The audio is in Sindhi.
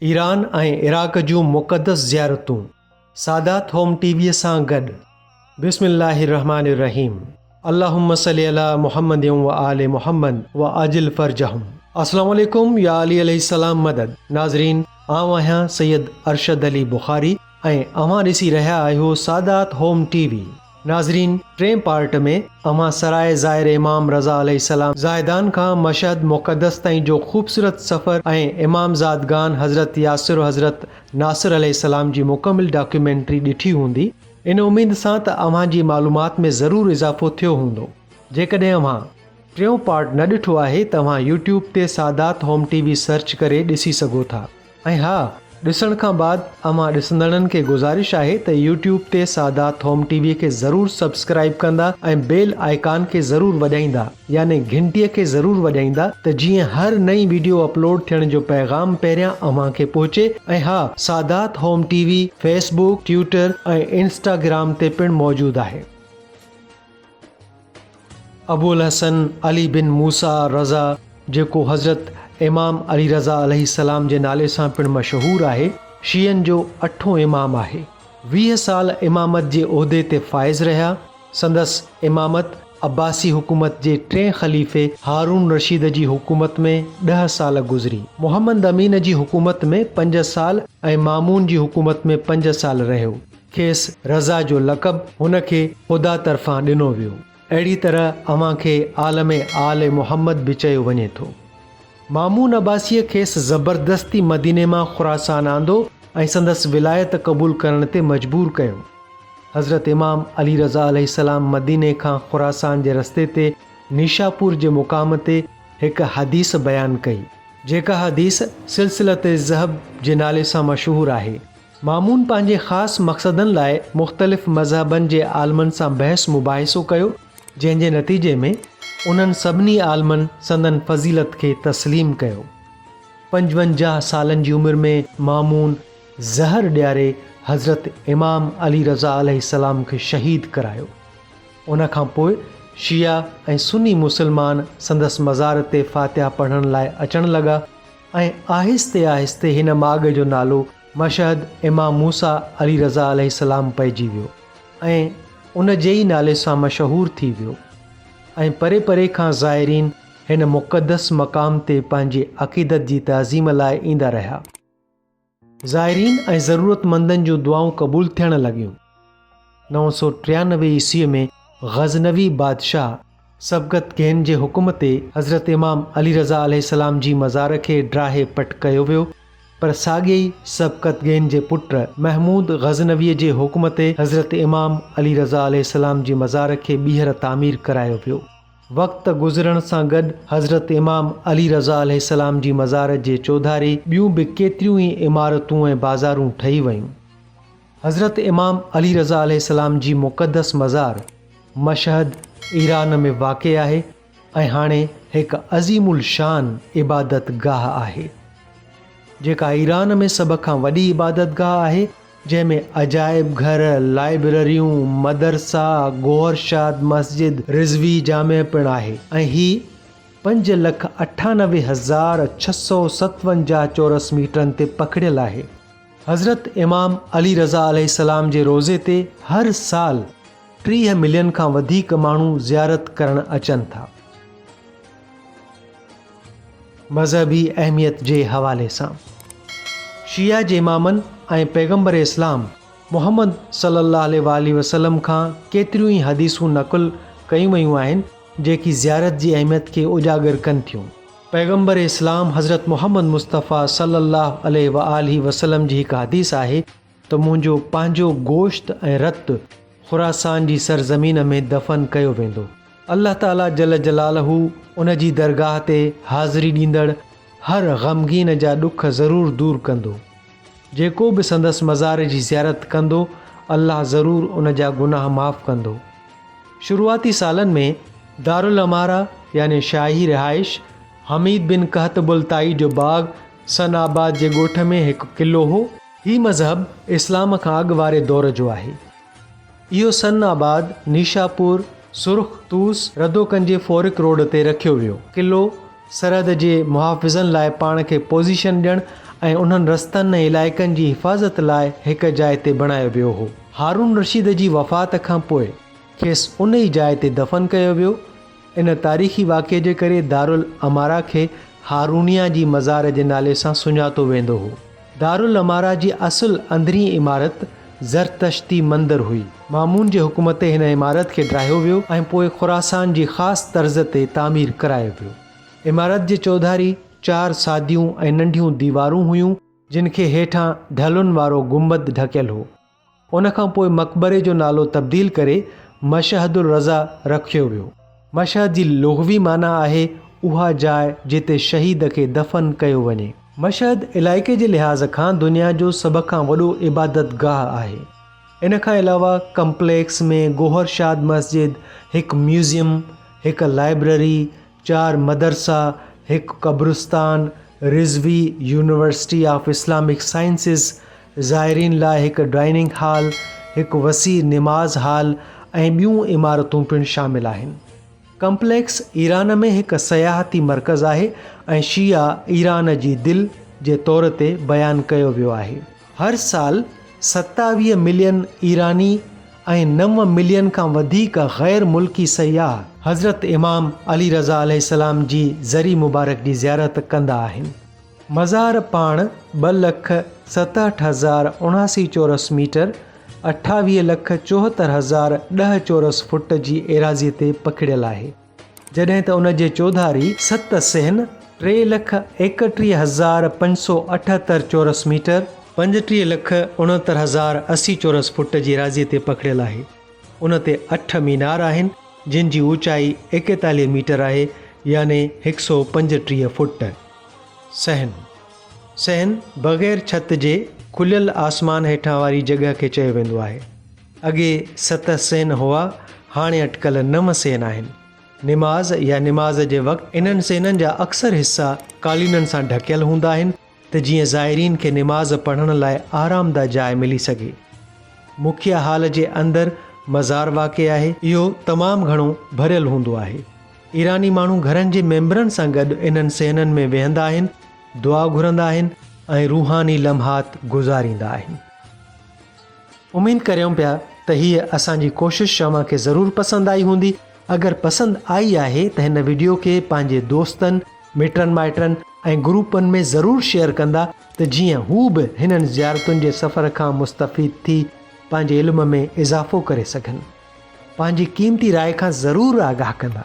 ايران ۽ عراق جون مقدس زيارتون، سادات هوم ٽي ويء سان گڏ. بسم الله الرحمٰن الرحيم اللهم صل علي محمد وآل محمد وعجل فرجهم السلام عليڪم يا علي عليه السلام مدد ناظرين آئون آهيان سيد ارشد علي بخاري ۽ اوهان ڏسي رهيا آهيو سادات هوم ٽي وي ناظرين ٽين پارٽ ۾ اوهان سرائي زائر امام رضا عليه السلام زاهدان کان مشهد مقدس تائين جو خوبصورت سفر ۽ امام زادگان حضرت ياسر و حضرت ناصر عليه السلام جي مڪمل ڊاڪيومينٽري ڏٺي هوندي ان اميد سان ته اوهان جي معلومات ۾ ضرور اضافو ٿيو هوندو. جيڪڏهن اوهان ٽيون پارٽ نه ڏٺو آهي ته اوهان يوٽيوب تي Sadat home T V search ڪري ڏسي سگهو ٿا ۽ ها ڏسڻ کان بعد اوهان ڏسندڙن کي گذارش آهي ته يوٽيوب تي سادات هوم ٽي وي کي ضرور سبسڪرائب ڪندا ۽ بيل آئيڪان کي ضرور وڄائيندا. يعني گهنٽيء کي ضرور وڄائيندا ته جيئن هر نئين ويڊيو اپلوڊ ٿيڻ جو پيغام پهريان اوهان کي پهچي ۽ ها Sadat home T V Facebook Twitter ۽ Instagram تي پڻ موجود آهي. ابوالحسن علي بن موسيٰ رضه جيڪو حضرت امام علي رضه عليه السلام جي نالي سان پڻ مشهور آهي شيعن جو اٺون امام آهي ويهه سال امامت جي عهدي تي فائز رهيا، سندس امامت عباسي حڪومت جي ٽئين خليفي هارون رشيد جي حڪومت ۾ ڏهه سال گذري. محمد امين جي حڪومت ۾ پنج سال ۽ مامون جي حڪومت ۾ پنج سال رهيو. کيس رضا جو لقب هن کي خدا طرفان ڏنو ويو. اهڙي طرح اوهان کي عالم آل محمد به چيو وڃي ٿو. مامون عباسيء کيس زبردستي مديني مان خراسان آندو ۽ سندس ولايت قبول ڪرڻ تي مجبور ڪيو. حضرت امام علي رضه عليه السلام مديني کان خراسان جي رستي تي نيشاپور جي مقام تي هڪ حديث بيان ڪئي، جيڪا حديث سلسلة الذهب جي نالي سان مشهور آهي، مامون پنهنجي خاص مقصدن لاء مختلف مذهبن جي عالمن سان بحث مباحثو ڪيو جنهن جي نتيجي ۾ انهن سڀني عالمن سندن فضيلت کي تسليم ڪيو. پنجونجاهه سالن جي عمر ۾ مامون زهر ڏياري حضرت امام علي رضه عليه السلام کي شهيد ڪرايو. ان کان پوء شيعا ۽ سني مسلمان سندس مزار تي فاتحه پڙهڻ لاء اچڻ لڳا ۽ آهستي آهستي هن ماڳ جو نالو مشهد امام موسيٰ عليه رضا عليه السلام پئجي ويو ۽ ان جي ئي نالي سان مشهور ٿي ويو ۽ پري پري کان زائرين هن مقدس مقام تي پنهنجي عقيدت جي تعظيم لاء ايندا رهيا. زائرين ۽ ضرورتمندن جون دعائون قبول ٿيڻ لڳيون. نو سؤ ٽيانوي عيسويء ۾ غزنوي بادشاهه سبڪت گين جي حڪم تي حضرت امام علي رضه عليه السلام جي مزار کي ڊاهي پٽ ڪيو ويو، پر ساڳئي ئي سبڪت گين جي پٽ محمود غزنويء جي حڪم تي حضرت امام علي رضه عليه السلام جي مزار کي ٻيهر تعمير ڪرايو ويو. وقت گذرڻ سان گڏ حضرت امام علي رضه عليه السلام جي مزار جي چوڌاري ٻيون به ڪيتريون ئي عمارتون ۽ بازارون ٺهي ويون. حضرت امام علي رضه عليه السلام جي مقدس مزار مشهد ايران ۾ واقع آهي ۽ هاڻي هڪ عظيم الشان عبادت گاهه آهي جيڪا ايران ۾ سڀ کان وڏي عبادت گاهه آهي جنهن ۾ عجائب گهر، لائبرريون، مدرسا، گوهرشاد مسجد، رضوي جامع پڻ آهي ۽ هي پنج لک اٺانوي هزار ڇهه سؤ ستونجاهه چورس ميٽرن تي پکڙيل آهي. حضرت امام علي رضه عليه السلام جي روضي تي هر سال ٽيهه ملين کان وڌيڪ ماڻهو زيارت ڪرڻ اچن ٿا. مذهبي اهميت جي حوالي سان شيعه جي امامن ۽ پيغمبر اسلام محمد صلي الله عليه واٰله وسلم کان ڪيتريون ئي حديثون نقل ڪيون ويون آهن جيڪي زيارت جي اهميت کي اجاگر ڪن ٿيون. پيغمبر اسلام حضرت محمد مصطفيٰ صلّي اللّٰه عليه واٰله وسلّم جي هڪ حديث آهي ته منهنجو پنهنجو گوشت ۽ رت خراسان جي سرزمين ۾ دفن ڪيو ويندو. الله تعاليٰ جلّ جلالهُ ان جي درگاهه تي حاضري ڏيندڙ هر غمگين جا ڏک ضرور دور ڪندو. جيڪو به سندس مزار جي زيارت ڪندو الله ضرور ان جا گناهه معاف ڪندو. شروعاتي سالن ۾ دارالعماره يعني شاهي رهائش حميد بن قهطب الطائي جو باغ سن آباد جي ڳوٺ ۾ هڪ قلعو هو. هي مذهب اسلام کان اڳ واري دور جو آهي. اهو سن آباد، نيشاپور، سرخ، طوس، ردوڪن جي فورڪ روڊ تي رکيو ويو. قلعو، سرحد جي محافظن لاء پاڻ کي پوزيشن ڏيڻ ۽ انهن رستن ۽ علائقن جي حفاظت لاء هڪ جاء تي بڻايو ويو هو. هارون رشيد جي وفات کان پوء کيس ان ئي جاء تي دفن ڪيو ويو. ان تاريخي واقعي جي ڪري دارالعماره کي هارونيه جي مزار جي نالي سان سڃاتو ويندو هو. دارالعماره جي اصل اندرين عمارت زرتشتي مندر هئي. مامون جي حڪم تي هن عمارت کي ڊاهيو ويو ۽ پوء خراسان جي خاص طرز تي تعمير ڪرايو ويو. عمارت جي چوڌاري چار ساديون ۽ ننڍيون ديوارون هيون، جن کي هيٺان ڍلن وارو گنبد ڍڪيل هو. ان کان پوء مقبري جو نالو تبديل ڪري مشهد الرضا رکيو ويو. مشهد جي لغوي معنيٰ آهي اها جاء جتي شهيد کي دفن ڪيو وڃي. مشهد علائقي جي لحاظ کان دنيا جو سڀ کان وڏو عبادت گاهه آهي. ان کان علاوه ڪمپليڪس ۾ گوهر شاد مسجد، هڪ ميوزيم، هڪ لائبرري، چار مدرسا، هڪ قبرستان، Razavi university of Islamic sciences, زائرين لاء هڪ ڊائننگ هال، هڪ وسيع نماز هال ۽ ٻيون عمارتون پڻ شامل آهن. ڪمپليڪس ايران ۾ هڪ سياحتي مرڪز آهي ۽ شيعا ايران جي دل جي طور تي بيان ڪيو ويو آهي. هر سال ستاويهه ملين ايراني ۽ نو ملين کان وڌيڪ غير ملڪي سياح حضرت امام علي رضه عليه السلام جي ذري مبارڪ جي زيارت ڪندا آهن. مزار پاڻ ٻه لک ستهٺ هزار اڻاسي چورس ميٽر، اٺاويهه لک چوهتر هزار ڏهه چورس فوٽ، جي ايراضي تي پکڙيل آهي. جڏهن ته ان جي چوڌاري ست صحن، ٽي لک ايڪٽيهه هزار پنج سؤ اٺهتر چورس ميٽر، پنجٽيهه لک اڻهتر هزار اسي چورس فوٽ جي ايراضيء تي پکڙيل آهي، ان تي اٺ مينار آهن، جن جي اوچائي ايڪيتاليهه ميٽر آهي يعني هڪ سؤ پنجٽيهه فوٽ. صحن، صحن، بغير ڇت جي کليل آسمان هيٺان واري جڳهه کي چيو ويندو آهي. اڳي ست سين هئا، هاڻي اٽڪل نو سين آهن. نماز يا نماز جي وقت انهن سينن جا اڪثر حصا قالينن سان ڍڪيل هوندا آهن ته جيئن زائرين کي نماز پڙهڻ لاء آرامده جاء ملي سگهي. مکيه هال جي اندر مزار واقع آهي. اهو تمام گهڻو ڀريل هوندو آهي. ايراني ماڻهو گهرن جي ميمبرن سان گڏ انهن سينن ۾ ويهندا آهن، دعا گهرندا آهن ۽ روحاني لمحات گذاريندا آهن. اميد ڪريون پيا ته هيء اسان جي ڪوشش شوان کي ضرور پسند آئي هوندي. اگر پسند آئي آهي ته هن وڊيو کي پنهنجي دوستن، مٽن مائٽن ۽ گروپن ۾ ضرور شيئر ڪندا ته جيئن هو به هنن زيارتن جي سفر کان مستفيد ٿي پنهنجي علم ۾ اضافو ڪري سگهن. پنهنجي قيمتي راء کان ضرور آگاهه ڪندا.